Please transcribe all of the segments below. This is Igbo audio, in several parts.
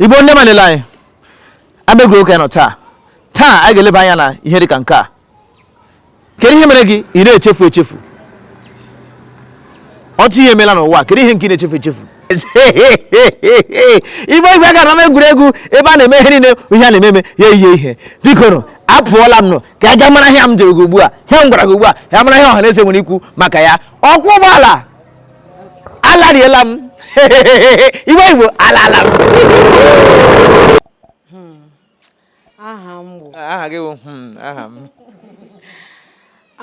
igbo ndị ọma niile anyị ebe egwuregwu ka anyị nọ taa taa anyị ga-eleba anya na ihe dị ka nke a kedu ihe mere gị ị na-echefu echefu otu ihe emela n'ụwa kedu ihe nke ị na-echefu echefu igbe igwe gara ama egwuregwu ebe a na-eme ihe niile ihe a na-eme eme ya eyihe ihe biko apụọla m nụ ka a ga mara ihe m jụrụ gị ugbu a ihe m gwara gị ugbu a ya mara ihe ọha na eze nwere ikwu maka ya ọkwọ ụgbọala alariela m igbo igbo alala m aha m bụ aha gị bụ hmm, aha m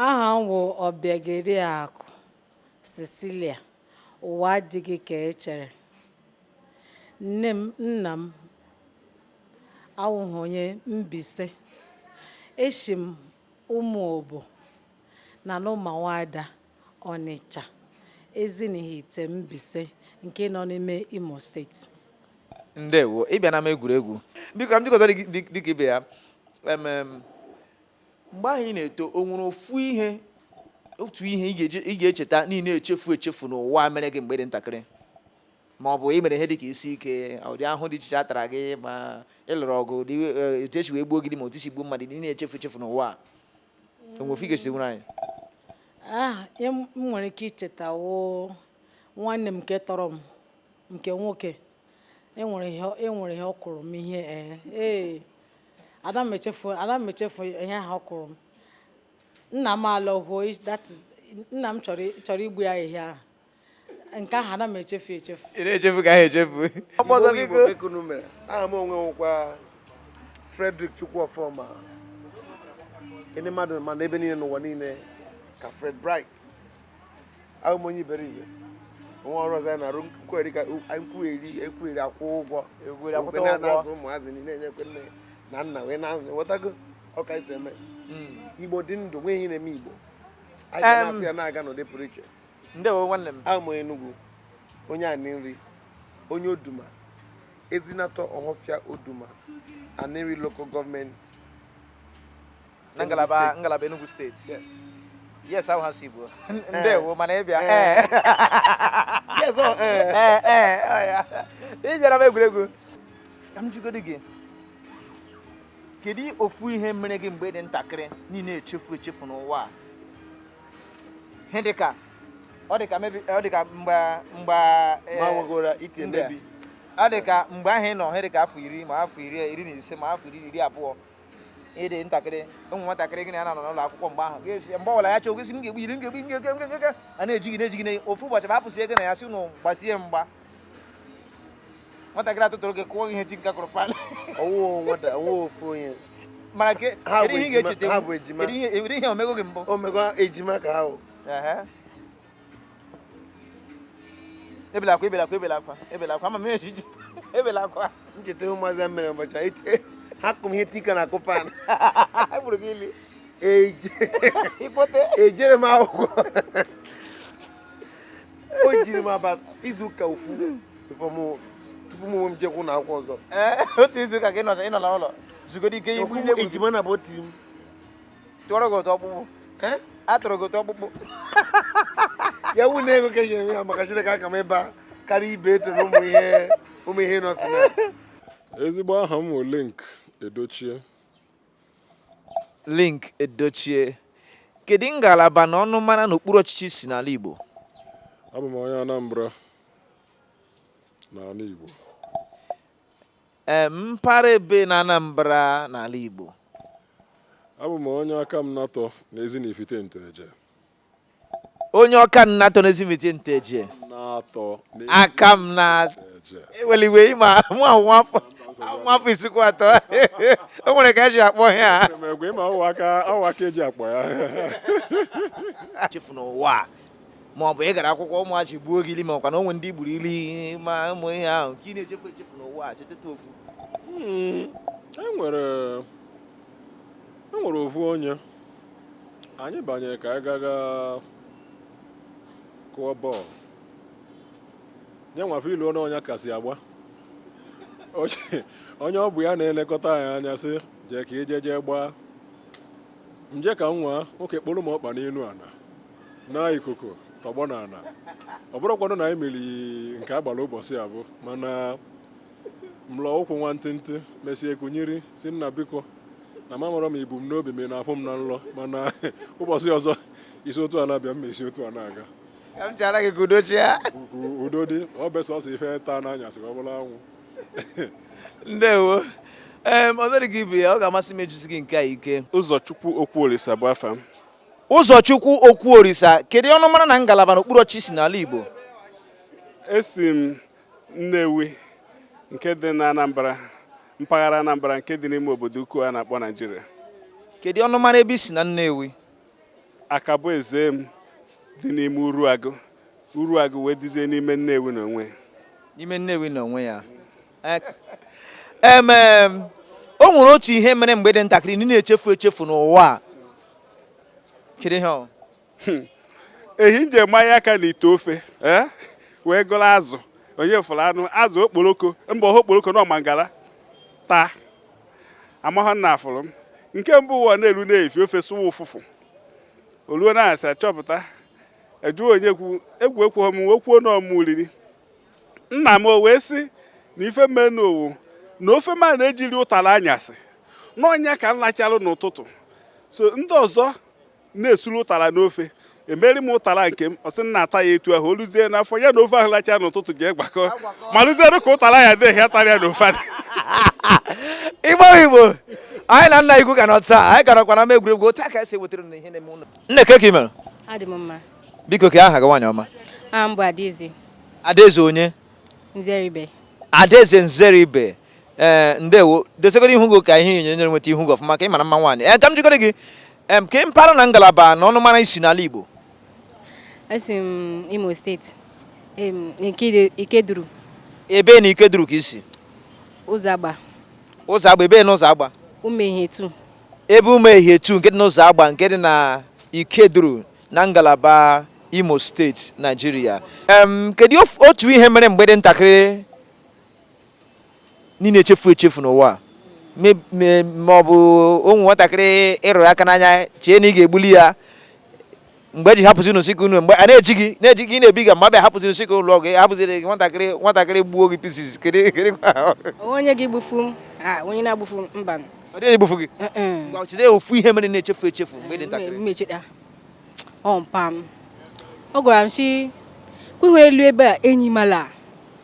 aha m bụ Ọbịageriakụ Cecilia ụwa adịghị ka e chere nne m nna m awụghị onye Mbaise eshi m Ụmụobo na n'Ụmụawada Ọnịcha, Ezinihitte Mbaise nke nọ n'ime Imo steeti. ndewo ị bịa n'ama egwuregwu biko m jikọta dịka ibe ya mgbe ahụ ị na-eto o nwere ofu ihe otu ihe ị ga-echeta na ị na-echefu echefu n'ụwa mere gị mgbe ị dị ntakịrị ma ọ bụ ị mere ihe dịka isi ike ụdị ahụ dị iche iche a tara gị ma ị lụrụ ọgụ e, etu e si wee gbuo gị dị ma otu i si gbuo mmadụ na ị na-echefu echefu n'ụwa o nwe ofu ị ga-esi nwere anyị ah ihe m nwere ike icheta wụ nwanne m nke tọrọ m nke nwoke enwere ihe ọ- enwere ihe ọ kụrụ m ihe ee ee ada m echefu ada m echefu ihe ahụ ọ kụrụ m nna m alọhuo is- that is- nna m chọrọ chọrọ igbu ya ehihie ahụ nke ahụ ana m echefu echefu ị na-echefu nke ahụ echefu ọkpọzọ biko ekunume aha m onwe m wụkwa Frederick Chukwuofoma ndị mmadụ ma m na ebe niile n'ụwa niile ka Fred Bright awụ m onye iberibe nwa ọrụ ọzọ anyị na-arụ nkweri ka nkwugheri ekwugheri akwụ ụgwọ okwe na-azụ ụmụazị niile enyekwa nne na nna wee na-enwetago ọka isi eme hmm. igbo dị ndụ nweghị ihe na-eme igbo anyị ga-asụ ya na-aga n'ụdị pụrụ iche ndewo nwanne m awụ m onye Enugu onye Anịnri onye Oduma Ezinatọ Ọhọfịa Oduma Anịnri local gọọmenti na ngalaba ngalaba Enugu steeti yes yes ahụ ha si igbo eh. ndewo mana ị bịa eh. eh. ị bịara ama egwuregwu ka m jụgodi gị kedu ofu ihe mere gị mgbe ị dị ntakịrị na ị na-echefu echefu n'ụwa a ihe dịka ọ dịka maybe ọ dịka mgbe mgbe eh, mawagora ite ndị a. maybe ọ dịka mgbe ahụ ị nọ ihe dịka afọ iri ma afọ iri iri na ise ma afọ iri na iri abụọ ịdị ntakịrị ụmụ nwatakịrị gị na ya na-anọ n'ụlọ akwụkwọ mgbe ahụ ga-esi mgbe ọbụla ya chọọ gị sị m ga-egbu gị ili m ga-egbu a na-ejighị na-ejighị na ofu ụbọchị ma apụsị ego na ya si ụnụ gbasie mgba nwatakịrị atụtụrụ gị kụọ ihe tinka kụrụ pan ọwụwa ofu onye mana kedu ihe ị ga-echeta kedu ihe o mego gị mbụ o mego ejima ka ahụ ebela akwa ebela akwa ebela akwa ebela akwa ama m ejiji ebela akwa ncheta ụmụazị ya mere ụbọchị e ha kụ m ihe tinka na-akụ pan gburu gị ili ejere m akwụkwọ o jiri m aba izu ụka ofu tupu m onwe m jekwa ụlọ akwụkwọ ọzọ eh, otu izu ụka ka ị nọ na ụlọ zugodi ike igbu ile ejima na bụ otu m tụọrọ gị ụtọ ọkpụkpụ eh? atụrụ gị ụtọ ọkpụkpụ ya wu na ego ka eji enwe ya maka Chineke aka m ịba karịa ibe eto na ụmụ ihe ụmụ ihe nọsị ya ezigbo aha m bụ Linc Edochie Linc Edochie kedu ngalaba na ọnụmara n'okpuru ọchịchị i si n'ala Igbo abụ m onye Anambra n'ala Igbo ee mpaghara ebe na Anambra n'ala Igbo abụ m onye Akamanatọ na Ezinifite Nteje onye Akamanatọ n'Ezinifite Nteje aka m na eweliwe ịma nwa nwafọ nwafọ isikwu atọ o nwere ka e ji akpọ ya chefu n'ụwa ma ọ bụ ị gara akwụkwọ ụmụazị gbuo gị ili ma ọ kwa na o nwere ndị i gburu ili ma ụmụ ihe ahụ ka ị na-echefu echefu n'ụwa chetata ofu hmm, e nwere ofu onye anyị banyere ka anyị gaga kụọ bọọlụ nye nwafe ilu onye onye kasị agba Onye- onye ọ bụ ya na-elekọta anyị anya sị jee ka ije jee gbaa m je ka nwa nwoke kpọrọ m ọkpa n'elu ana na ikuku tọgbọ na ana ọ bụrụkwanụ na anyị meri nke a gbara ụbọchị afụ mana m lọọ ụkwụ nwantịntị mesie kunyiri sị nna biko na m amarọ m ibu m n'obi m na-afụ m na nlọ mana ụbọchị ọzọ i si otu a na-abịa m esi otu a na-aga ka m chara gị ka udo chịa udo dị ọ bụ sọsọ ife taa n'anyasị ka ọ bụla anwụ ndewo ee ọzọ dị ka ibe ya ọ ga-amasị m ịjụzi gị nke a ike Ụzọchukwu Okwuolisa bụ afa m Ụzọchukwu Okwuolisa kedu ọnụmara na ngalaba n'okpuru ọchịchị n'ala igbo esi m Nnewi nke dị na Anambra mpaghara Anambra nke dị n'ime obodo ukwu a na-akpọ Naijiria. Kedu ọnụmara ebe i si na Nnewi? Akaboezem dị n'ime Uruagụ. Uruagụ wee dịzie n'ime Nnewi n'onwe ya. N'ime Nnewi n'onwe ya. Emem o nwere otu ihe mere mgbe ị dị ntakịrị na ị na-echefu echefu n'ụwa a. Kedu ihe ọ? hmm. ehi nje manya aka na ite ofe eh? wee gụrụ azụ onye fụrụ anụ azụ okporoko mba ọha okporoko na mangala taa amahọ m na a fụrụ m nke mbụ ụwa na-elu na-efi ofe sụwa ụfụfụ o luo na anyasị a chọpụta a jụọ onye kwu egwu ekweghọ m wee kwuo na ọ mụ riri nna m o wee sị na ife me nụ wụ na ofe m na-eji ri ụtara anyasị n'ọ nya ka m lachalụ n'ụtụtụ so ndị ọzọ na-esuru ụtara n'ofe emeri m ụtara nke m ọ sị m na-ata ya etu ahụ o luzie n'afọ ya na ofe ahụ lacha n'ụtụtụ jee gbakọ malụziere ka ụtara ya dị ya tara ya na ofe igbo igbo anyị na nna igwu ka nọ taa anyị garakwa na ama egwuregwu otu a ka e si wetara unu ihe na-eme ụlọ nne kee ka i mere adị m mma biko kee aha gị nwaanyị ọma aha m bụ adaeze adaeze onye nzeribe adaeze nzeribe ee eh, ndewo dozigodu ihu gị ka ihe onyonyo nweta ihu gị ọfụma ka ị mara mma nwaanyị ee eh, ka m jụkọrọ gị kee mpaghara na ngalaba na ọnụmara i si n'ala Igbo esi m Imo steeti Ikeduru ebee na Ikeduru ka i si Ụzọagba Ụzọagba ebee na Ụzọagba Umuehihie two ebee Umuehihie two nke dị n'Ụzọagba nke dị na Ikeduru na ngalaba Imo steeti Naijiria kedu otu ihe mere mgbe ị dị ntakịrị na ị na-echefu echefu n'ụwa a. Me- me- ma ọ bụ o nwee nwatakịrị ị rụrụ aka n'anya chee na ị ga-egbuli ya mgbe e ji hapụzi unu sị ka unu mgbe a na-eji gị na-eji gị na-ebi ga mgbe a bịa hapụzi unu sị ka unu lụọ ọgụ a hapụziri gị nwatakịrị nwatakịrị gbuo gị pieces kedu kedu ka- O nwe onye gị gbufu m ah, onye na-egbufu m mba m. ọ dịghị egbufu gị Eh, eh. Ngwa, cheta ofu ihe mere na-echefu echefu mgbe ị dị ntakịrị m echeta ọ mpa m ọ gwara m sị kwenwere elu ebe a enyi mala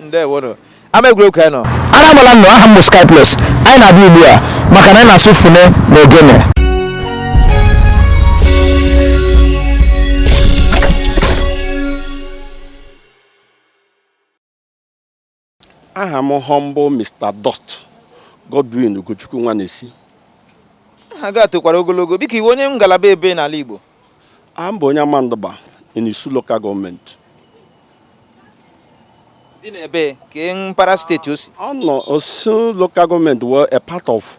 ndewonu ama egwuregwu ka anyị nọ Anambra nnọọ aha m bụ Sky Plus anyị na-abịa ugbu a maka na anyị na-asụ fune na ogene aha m humble Mr. Dust Godwin Ugochukwu Nwanesi aha gị a tokwara ogologo biko ị wụ onye ngalaba ebe n'ala Igbo A m bụ onye Amandugba in Isu Local Gọọmenti. Dị n'ebe kee mpaghara steeti o si. Ọ nọ Isu Local Gọọmenti were a part of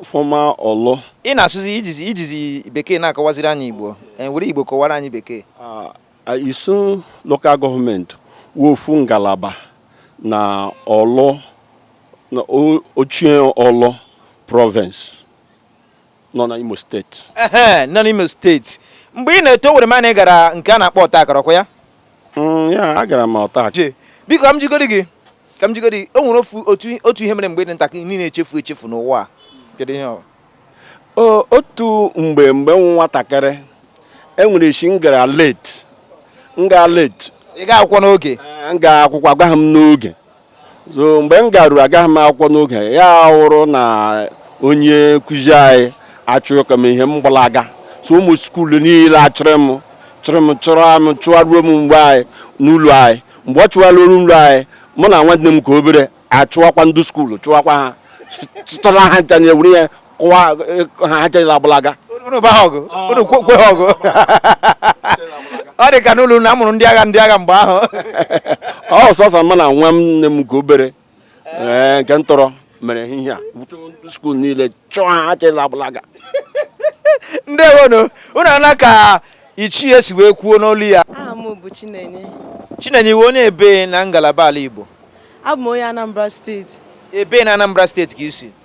former Orlu. Ị na-asụzi i jizi i jizi bekee na-akọwaziri anyị Igbo e were Igbo kọwara anyị bekee. Ah, ah, Isu Local Gọọmenti wụ ofu ngalaba na Orlu na o- ochie Orlu province. nọ na Imo steeti ehe nọ n'Imo steeti mgbe ị na-eto ewere m na ị gara nke a na-akpọ ọta akara ọ kwa ya mm, ya agara m ọta akara biko ka m jigodi gị ka m jigodi gị o nwere ofu otu otu ihe mere mgbe ị dị ntakịrị niile echefu echefu n'ụwa a kedu ihe ọ otu mgbe mgbe m wụ nwatakịrị e nwere eshi m gara late m gaa late ị ga akwụkwọ n'oge m gaa akwụkwọ agaghị m n'oge so mgbe m garuru agaghị m akwụkwọ n'oge ya wụrụ na onye nkụzi anyị achọọ ịkụ m ihe m gbalaga so ụmụ skuulu niile achụrụ m chụrụ m chụrụ m chụwaruo m be anyị n'ụlọ anyị mgbe ọ chụwaruru ụlọ anyị mụ na nwanne m nke obere achụwakwa ndị skuulu chụwakwa ha chụtara ha ncha na ewere ihe kụwa eh, ha ha ncha agbalaga unu ba ha ọgụ unu kwe kwe ha ọgụ ọ dị ka n'ụlọ unu a mụrụ ndị agha ndị agha mgbe ahụ ọ sọsọ mụ na nwanne m nke obere ee, nke m tọrọ mere ihe a skuul niile chụọ ha ha ncha agbalaga ndewonu unu anụ ka ichie si wee kwuo n'olu ya aha m bụ chinenye chinenye iwe onye ebe na ngalaba ala igbo abụ m onye anambra steeti ebe na anambra steeti ka i si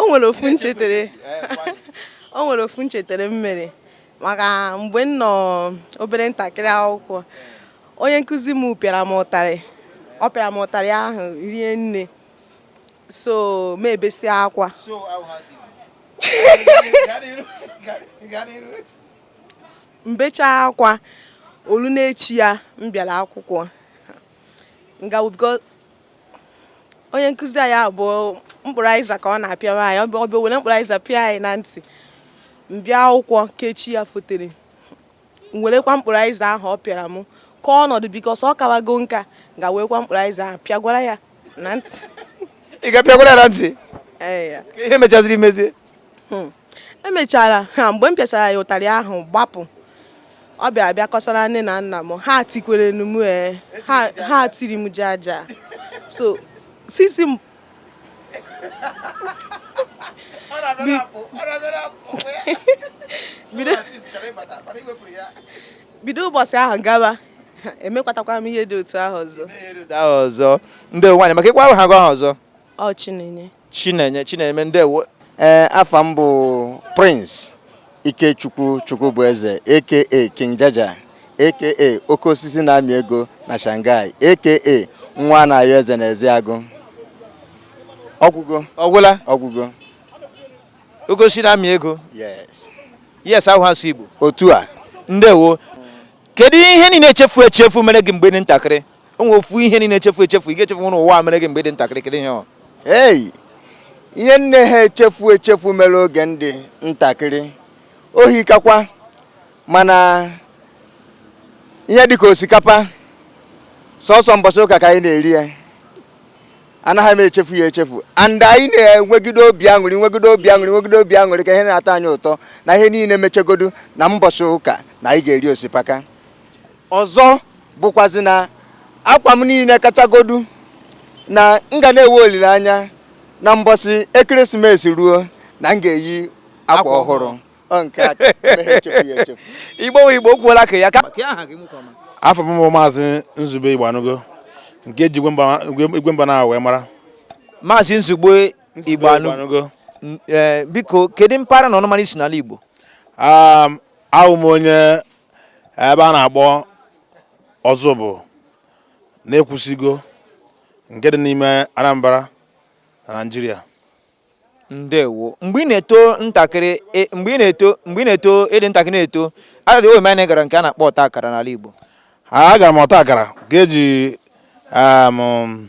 o nwere ofu m chetere o nwere ofu m chetere m mere maka mgbe m nọ obere ntakịrị akwụkwọ onye nkụzi m pịara m ụtarị ọ pịara m ụtarị ahụ rie nne so m ebesịa akwa m becha akwa o luo n'echi ya m bịara akwụkwọ onye nkụzi anyị ahụ bụ mkpụrụ aịza ka ọ na-apịawa anyị ọ bịa were mkpụrụ aịza pịa anyị na ntị m bịa akwụkwọ ka echi ya fotere werekwa mkpụrụ aịza ahụ ọ pịara m ka ọ nọdụ because ọ kawago nka gaa werekwa mkpụrụ aịza ahụ pịagwara ya na ntị ị gaa pịagwara ya na ntị ihe mechaziri mezie Hmm. emechara ha mgbe m pịasara ya ụtarị ahụ gbapụ ọ bịa bịa kọsara nne na nna m ha tikwere m ee ha tiri m jaja so sisi m bido ụbọsị ahụ gaba emekwatakwa m ihe dị otu ahụ ọzọ ndewo nwaanyị maka ịkwa ahụ ha gwa ha ọzọ ọ chinenye Chinenye Chinenye ndewo ee afa m bụ Prince Ikechukwu Chukwubueze aka King Jaja aka oke osisi na-amị ego na Shanghai aka nwa na-ayọ eze na Eziagụ ọgwụgo ọgwụla ọgwụgo oke osisi na-amị ego yes yes awụghị asụsụ Igbo otu a ndewo kedu ihe ị naghị echefu echefu mere gị mgbe ị dị ntakịrị o nwere ofu ihe ị naghị echefu echefu ị ga-echefu n'elu ụwa mere gị mgbe ị dị ntakịrị kedu ihe ọ ihe m naha echefu echefu mere oge m dị ntakịrị o hikakwa mana ihe dịka osikapa sọsọ mbọsị ụka ka anyị na-eri ya anaghị m echefu ya echefu and anyị na-enwegide obi aṅụrị nwegide obi aṅụrị nwegide obi aṅụrị ka ihe na-atọ anyị ụtọ na ihe niile mechegodu na mbọsị ụka na anyị ga-eri osipaka Ọzọ bụkwazi na akwa m niile kachagodu na m ga na-enwe olileanya na mbọsị ekeresimesi ruo na m ga-eyi akwa ọhụrụ Ọ nke a meghị echefu ya echefu igbo wụ igbo kwuola ka ya ka afa m bụ maazị nzube igbanugo nke e ji igwe mba na wee mara maazị nzube igbanugo Igbanugo. N- eh, biko kedu mpaghara na ọnụmara i si n'ala igbo Um, awụ m onye ebe a na-akpọ Ọzụbụlụ na Ekwusigo nke dị n'ime Anambra na Naịjirịa ndewo mgbe ị na-eto ntakịrị e, mgbe ị na-eto mgbe ị na-eto ị dị ntakịrị na-eto adịghị o were m anya ị gara nke a na-akpọ ọta akara n'ala Igbo agara m ọta akara KG um,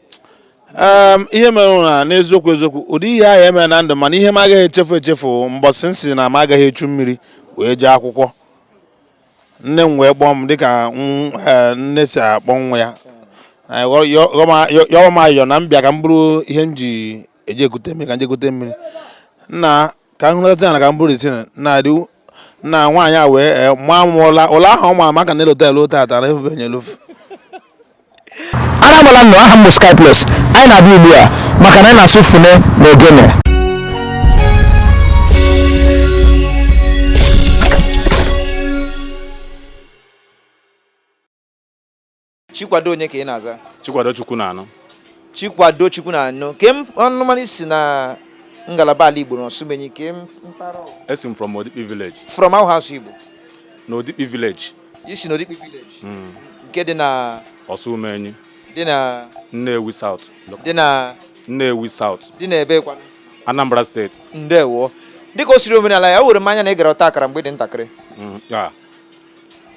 Em, ihe mere bụ na n'eziokwu eziokwu ụdị ihe ahụ emere na ndụ mana ihe m agaghị echefu echefu bụ mbọsị m sị na m agaghị echu mmiri wee jee akwụkwọ nne m wee kpọọ m dịka m- eh, nne si akpọ nwa ya Anyị ghọ- yọ- ghọọ m a- yọ- yọọ m ayọ na m bịa ka m buru ihe m ji eje ekute mmiri ka m je kute mmiri nna ka m huruzi ana ka m buru isi na adị na nwaanyị a wee eh, maa m ụla ụla ahụ ọ ma m ka m na-elota elu tata na efube nye elufu anabala nnụ aha m bụ Sky Plus anyị na-abịa ugbu a maka na anyị na-asụ fune na ogene Chikwado onye ka ị na-aza? Chikwado Chukwunaanụ. Chikwado Chukwunaanụ. Ke ọnụmara i si na ngalaba ala Igbo n'Ọsụmenyi ke mpaghara? Esi m from Odikpi village. From awụghị asụsụ Igbo? Na Odikpi village. I si na Odikpi village? Hmm. Nke dị na? Ọsụmenyi. Dị na? Nnewi South. Dị na? Nnewi South. Dị na ebe kwanụ? Anambra steeti. Ndewo. Dịka o siri omenala ya, o were m anya na ị gara ọta akara mgbe ị dị ntakịrị. Hmm,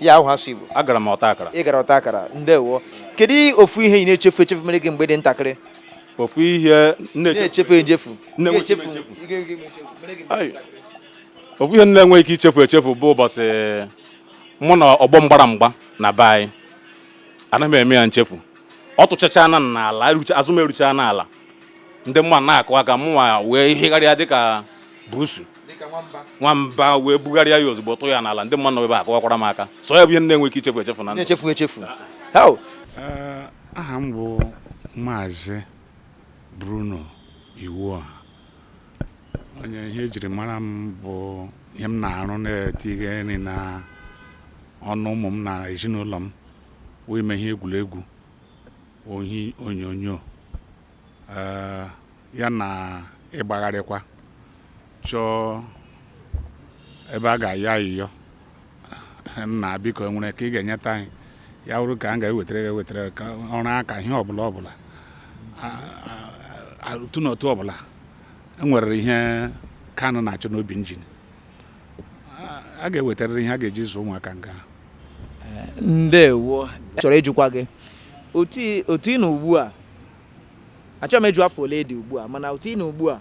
ya ahụ asụ Igbo agara m ọta akara ị gara ọta akara ndewo kedu ofu ihe ị na-echefu echefu mere gị mgbe ị dị ntakịrị ofu ihe na-echefu echefu ofu ihe m na-enweghị ike ichefu echefu bụ ụbọchị mụ na ọgbọ m gbara mgba na be anyị anaghị m eme ya nchefu ọ tụchachana m n'ala azụ m eruchana ala ndị mmadụ na-akụ aka mụnwa wee higharịa dịka buusu nwamba wee bugharịa ya ozugbo tụọ ya n'ala ndị mmadụ ebe a kụwakwara m aka so ya bụ ihe m na-enweghị ike ichefu echefu na ndụ na-echefu echefu eh, aha m bụ maazị Bruno Iwuoha onye ihe ejiri mara m bụ ihe m na-arụ na-etinye nri na ọnụ ụmụ m na ezinụlọ m wụ ime ihe egwuregwu ihe onyonyo ee, ya na ịgbagharịkwa chọọ ebe a ga-ayọ ayịyọ nna biko enwere ka ị ga-enyeta anyị ya wụrụ ka m ga-ewetara gị ewetara gị ka ọrụ aka ihe ọbụla ọbụla A- a- a- otu na otu ọbụla enwere ihe kanụ na-achọ n'obi njin a ga-ewetarịrị ihe a ga-eji zụ ụmụaka ngwa ndewo m chọrọ ịjụkwa gị otu ị na ugbu a achọghị m ịjụ afọ ole ị dị ugbu a mana otu ị na ugbu a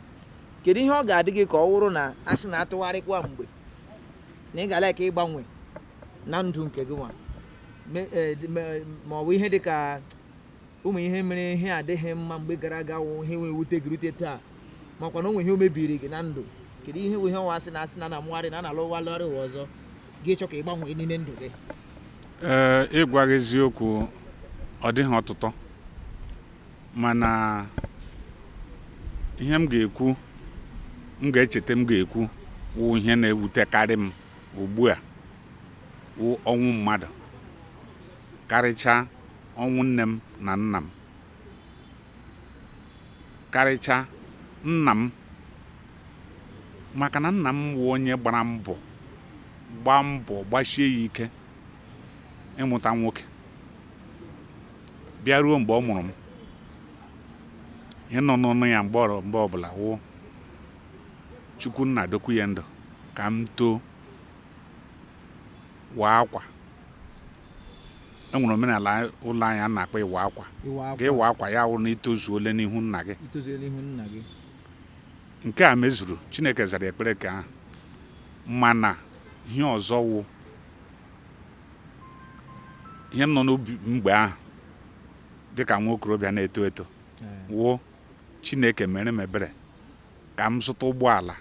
kedu ihe ọ ga-adị gị ka ọ wụrụ na a sị na a tụgharịkwa mgbe na ị ga-like ịgbanwe na ndụ nke gịnwa eh, ma ọ bụ ihe dị ka Ụmụ ihe mere ihe adịghị mma mgbe gara aga wụ ihe na-ewute gị rute taa makwa na o nwe ihe o mebiri gị na ndụ kedu ihe bụ ihe ọ wụ a sị na a sị na a na-amụgharị na a na-alọgharị ụwa ọzọ ị ga-achọ ka ị gbanwee n'ime ndụ gị ee ịgwa gị eziokwu ọ dịghị ọtụtụ mana ihe m ga-ekwu m ga-echeta m ga-ekwu wụ ihe na-ewutekarị m ugbu a wụ ọnwụ mmadụ Karịchaa, ọnwụ nne m na nna m. Karịchaa, nna m. Maka na nna m wụ onye gbara mbọ, gbaa mbọ, gbasie ya ike ịmụta nwoke. Bịa ruo mgbe ọ mụrụ m, ihe nọ n'ọnụ ya mgbe ọ- mgbe ọbụla wụ Chukwu nna dokwuo ya ndụ ka m too. waa akwa e nwere omenala ụlọ anyị a na-akpọ ịwa akwa ka ịwa akwa ya wụrụ na i tozuole n'ihu nna gị nke a mezuru chineke zara ekpere nke ahụ mana ihe ọzọ wụ ihe nọ n'obi m mgbe ahụ dịka nwa okorobịa na-eto eto wụ chineke meere m ebere ka m zụta ụgbọala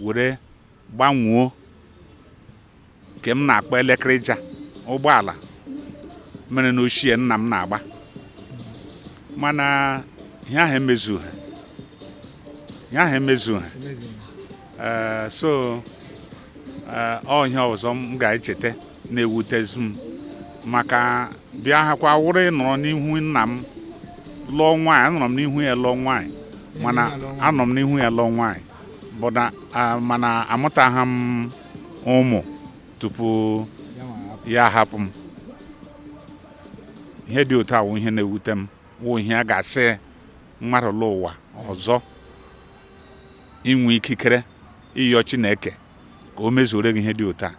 were gbanwuo nke m na-akpọ elekịrịja ụgbọala merenụ ochie nna m na-agba mana ihe ahụ emezughị ihe ahụ emezughị Eh, so eh, ọ ihe ọzọ m ga-echeta na-ewutezi m maka bịa hakwa wụrụ ịnọrọ n'ihu nna m lụọ nwaanyị anọrọ m n'ihu ya lụọ nwaanyị mana anọ m n'ihu ya lụọ nwaanyị bụ na ah, mana amụtaghị m ụmụ tupu ya ahapụ m ihe dị otu a wụ ihe na-ewute m wụ ihe a ga-asị mmadụ lọ ụwa ọzọ i nwee ikikere ịyọ Chineke ka o mezuore gị ihe dị otu a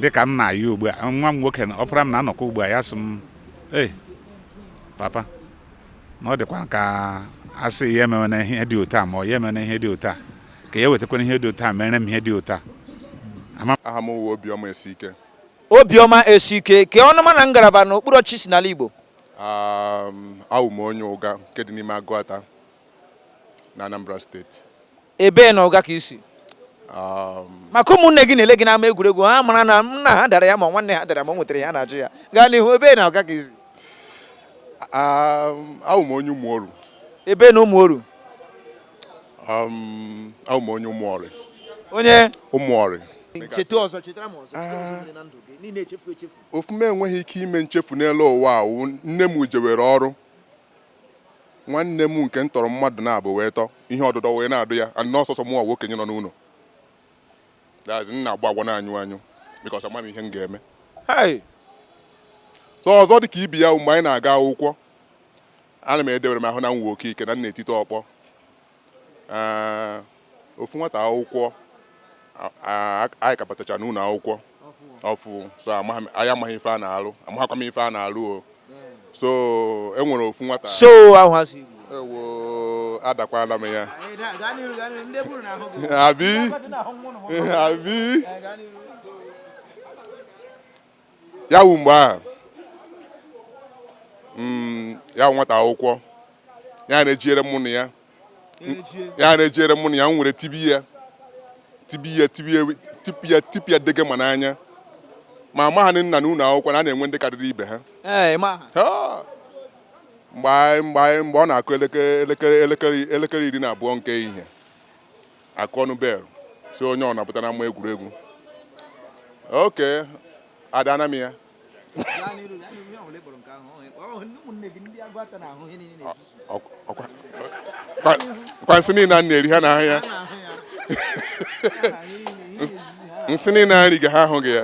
dịka m na-ayọ ugbu a nwa m nwoke ọpara m na-anọkọ ugbu a ya sị m ee papa na ọ dịkwa ka a sị ya emewe na ihe dị otu a ma ọ ya emewe na ihe dị otu a ka ya wetakwara ihe dị otu a mere m ihe dị otu a aha m wụ Obiọma Esike Obiọma Esike kee ọnụma na ngalaba na okpuru ọchịchị i si n'ala Igbo awụ m onye Ụga nke dị n'ime Agụata na Anambra steeti ebee na Ụga ka i si um, maka ụmụnne gị na-ele gị n'ama egwuregwu ha mara na nna ha dara ya ma nwanne ha dara ma o nwetara ya na-ajụ ya gaa n'ihu ebee na Ụga ka i si um, awụ m onye Ụmụoru ebee na Ụmụoru um, awụ m onye Ụmụọrị onye Ụmụọrị cheta ọzọ chetara m ọzọ chetara ọzọ mere na ndụ gị niile echefu echefu ofu m enweghị ike ime nchefu n'elu ụwa a wụ nne m jewere ọrụ nwanne m nke m tọrọ mmadụ naabọ wee tọ ihe ọdụdọ wee na-adọ ya and na ọ sọsọ mụnwa wụ okenye nọ n'ụlọ that's m na-agba agba na-anyụ anyụ because ama m ihe m ga-eme Hey! so ọzọ dị ka ibe ya bụ mgbe anyị na-aga akwụkwọ ana m edewere m ahụ na m nwe oke ike na m na-etite ọkpọ ee, ofu nwata akwụkwọ a- a- anyị ka batacha n'ụlọ akwụkwọ ọfụụ so amaghị m- anyị amaghị ife a na-alụ amaghịkwa m ife a na-alụ o so e nwere ofu nwata so ahụ ha si Igbo ewo adakwala m ya abi abi ya wụ mgbe ahụ mm, ya wụ nwata akwụkwọ ya na-ejiere mụ na ya ya na-ejiere mụ na ya m were tibe ya tibe ya tibe ya tipịa ya tipịa ya dege ma n'anya ma amaghị m na n'ụlọ akwụkwọ na a na-enwe ndị karịrị ibe ha mgbe mgbe mgbe ọ na-akụ elekere elekere elekere iri na abụọ nke ehihie a kụọnụ bel sị onye ọ na-apụta n'ama egwuregwu oke adana m ya kwansị niile a na-eri ha na ahụ ya nsị niile a nri ga ha ahụ gị ya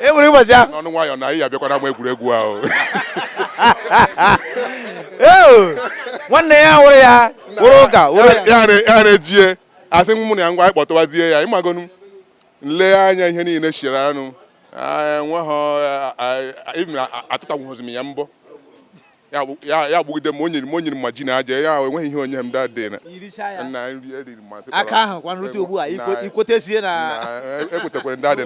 e nwere ụbọchị ahụ n'ọnụ nwayọọ na anyị abịakwa n'ama egwuregwu ahụ nwanne ya wụrụ ya wụrụ ụka ya na-ejie asị m na ya ngwa anyị kpọtụwazie ya ịmagonu nle anya ihe niile chiri anụ enweghị atụtanwụghịzi m ya mbọ ya egbugide m o nyere m o nyere m ma ji na aja ya enweghị ihe onye m da dị na na nri eriri masị aka ahụ kwa nrute ugbu a ikwetezie na ekwetekwere ndị adị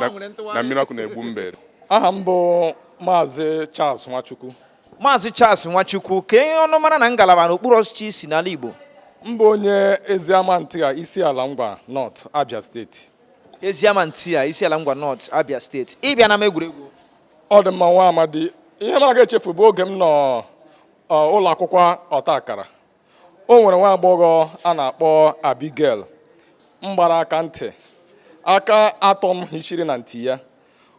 na mmiri ọkụ na-egbu mbe aha m bụ maazị Charles Nwachukwu maazị Charles Nwachukwu kee ọnụmara na ngalaba n'okpuru ọchịchị i si n'ala Igbo m bụ onye Eziama Ntigha Isiala Ngwa North Abia steeti Eziama Ntigha Isiala Ngwa North Abia steeti ị bịa n'ama egwuregwu ọ dị mma nwa amadi ihe m aga echefu bụ oge m nọ ụlọ akwụkwọ ọta akara o nwere nwa agbọghọ a na-akpọ Abigail m gbara aka ntị aka atọ m hichiri na ntị ya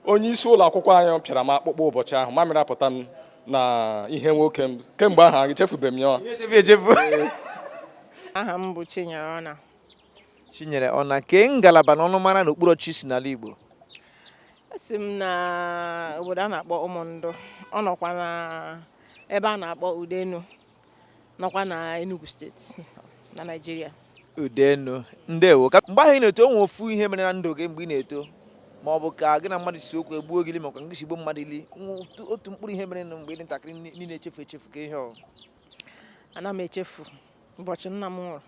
onye isi ụlọ akwụkwọ anyị pịara m akpụkpọ ụbọchị ahụ mamịrị apụta m na ihe nwoke m kemgbe ahụ echefubeghị m ya Ihe echefu echefu. aha m bụ Chinyere Ọna Chinyere Ọna kee ngalaba na ọnụmara na okpuru ọchịchị i si n'ala Igbo esi m na obodo a na-akpọ ụmụndụ ọ nọkwa na ebe a na-akpọ udenu nọkwa na enugu steeti na naijiria udenu ndewo ka mgbe ahụ ị na-eto o nwe ofu ihe mere na ndụ gị mgbe ị na-eto ma ọ bụ ka gị na mmadụ si okwu egbuo gị ili makwa nke si gbuo mmadụ ili otu mkpụrụ ihe mere na mgbe ị dị ntakịrị ị na-echefu echefu kee ihe ọ ana m echefu ụbọchị nna m nwụrụ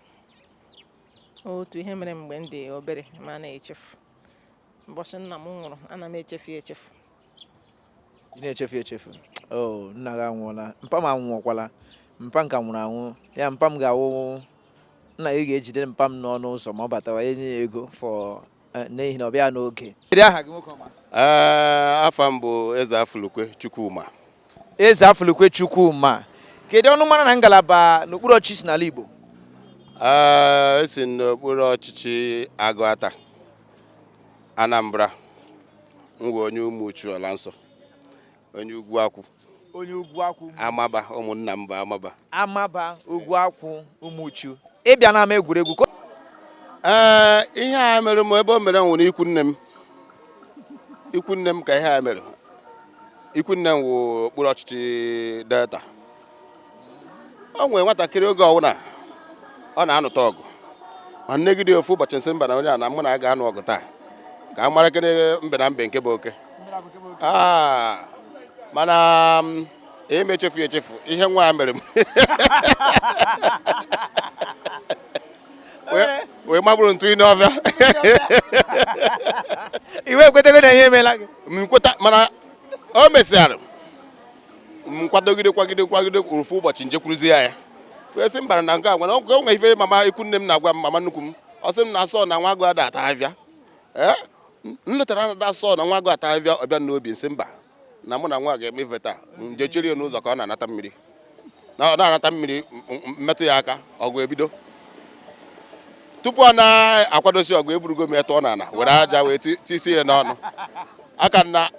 otu ihe mere mgbe m dị obere m anaghị echefu ụbọchị nna m nwụrụ ana m echefu echefu ị na-echefu echefu o oh, nna gị anwụọla mpa m anwụọkwala mpa m ka nwụrụ anwụ ya mpa m ga-awụ nna gị ga-ejide mpa m n'ọnụ ụzọ ma ọ batawa enye ya ego fọ eh, n'ihi na ọ bịa n'oge eh, afa m bụ ezeafụlukwe chukwuma ezeafụlukwe chukwuma kedu ọnụmara na ngalaba n'okpuru ọchịchị i si n'ala igbo eh, esi m n'okpuru ọchịchị agụata anambra m wụ onye ụmụchu ala nsọ onye ugwuakwụ onye ugwuakwụ amaba ụmụnna m bụ amaba amaba ugwuakwụ ụmụchu ị bịa n'ama egwuregwu ee ihe a mere m ebe o mere wụ n'ikwu nne m ikwu nne m ka ihe a mere ikwu nne m wụ okpuru ọchịchị delta o nwere nwatakịrị oge ọwụna ọ na-anụta ọgụ ma nnegide ofu ụbọchị nsị mba na onye a na mụ na ya ga-anụ ọgụ taa ka a mara kene mbe na mbe nke bụ oke ah, mana mm, eme echefu echefu ihe nwa a mere m wee maburu m tụị n'ọvịa iwe ekwetego na ihe emeela gị m kweta mana o mesịara nkwadogide kwagide kwagide ofu ụbọchị njekwuruzie ya ya wee sị mba na nke a nwere o nwere ife mama ikwu nne m na-agwa m mama nnukwu m ọ sị m na asọ na nwa agụ ada ata avịa ee m lotara na asọ na nwa agụ ata avịa ọ bịa n'obi nsị mba na mụ na nwa a ga-eme ife taa nje chiri ya n'ụzọ ka ọ na-anata mmiri na-anata mmiri mmetụ ya aka ọgụ ebido tupu ọ na-akwadosi ọgụ eburugo m ya tụọ n'ala were aja wee tisi ya n'ọnụ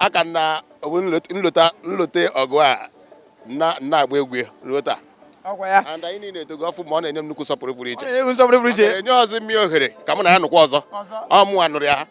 aka na nlote ọgụ a na-agba egwu ruo taa and anyị niile etogo ọfụma ọ na-enye m nnukwu nsọpụrụ pụrụ iche o nyerọzị m ohere ka mụ na ya nụkwa ọzọ ọ mụwa nụrụ ya